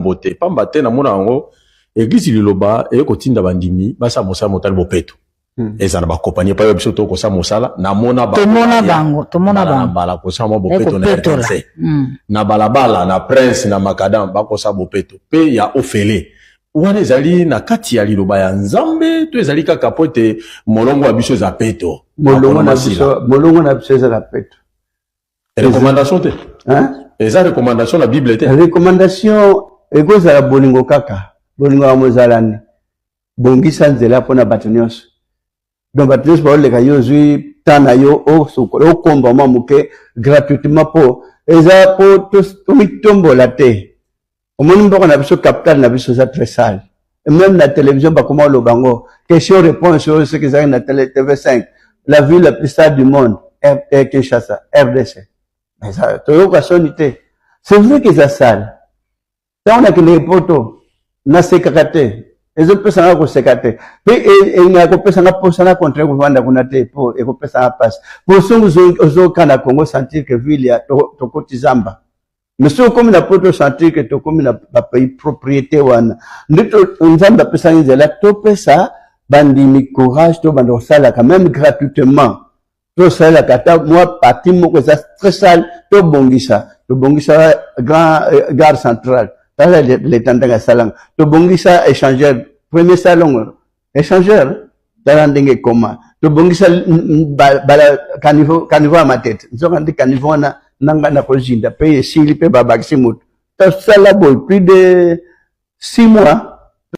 yambo te pamba te na mona yango eglise liloba eye kotinda bandimi basala mosala motali bopeto hmm. ezala bakompani epai oyo biso to kosala mosala namona tomona bango tomona bango mbala kosala mwa bopeto na rdc hmm. na balabala na prince na macadam bakosala bopeto mpe ya ofele wana ezali na kati ya liloba ya nzambe to ezali kaka mpo ete molongo ya biso eza peto molongo na biso eza na peto recommandation te eza recommandation na bible te recommandation ekozala bolingo kaka bolingo yango ezalani bongisa nzela mpo na bato nyonso donc bato nyonso baoleka yo ozwi temps na yo osokola okomba mwa moke gratuitement mpo eza mpo tomitombola te omoni mboka na biso capital na biso eza très sale et même na télévision bakoma oloba yango question réponse oyo soki ezalaki na télé tv 5 la ville la plus sale du monde eh, kinshasa rdc toyoka soni te c'est vrai que eza sale ntango nakendeke poto nasekaka te ezopesa nga koseka te mpe elinga e, kopesa nga mposa na contraire kovanda kuna te mpo ekopesa nga mpasi mpo songi ozoka na congo sentir que ville tokotisamba to mais soki okomi na poto sentir ke tokomi na bapropriété wana nde nzambe apesaki nzela topesa bandimi courage tobanda kosalaka meme gratuitement tosalelaka ata mwa parti moko eza très sale tobongisa tobongisa grand euh, gare centrale tala leta ndenge asalanga tobongisa échangeur premier salongo Echangeur, tala ndenge ekoma tobongisa caniveau ya matete nzoka nde caniveau wana na ngai nakozinda mpe esili mpe babakisi motu tosala boye plus de six mois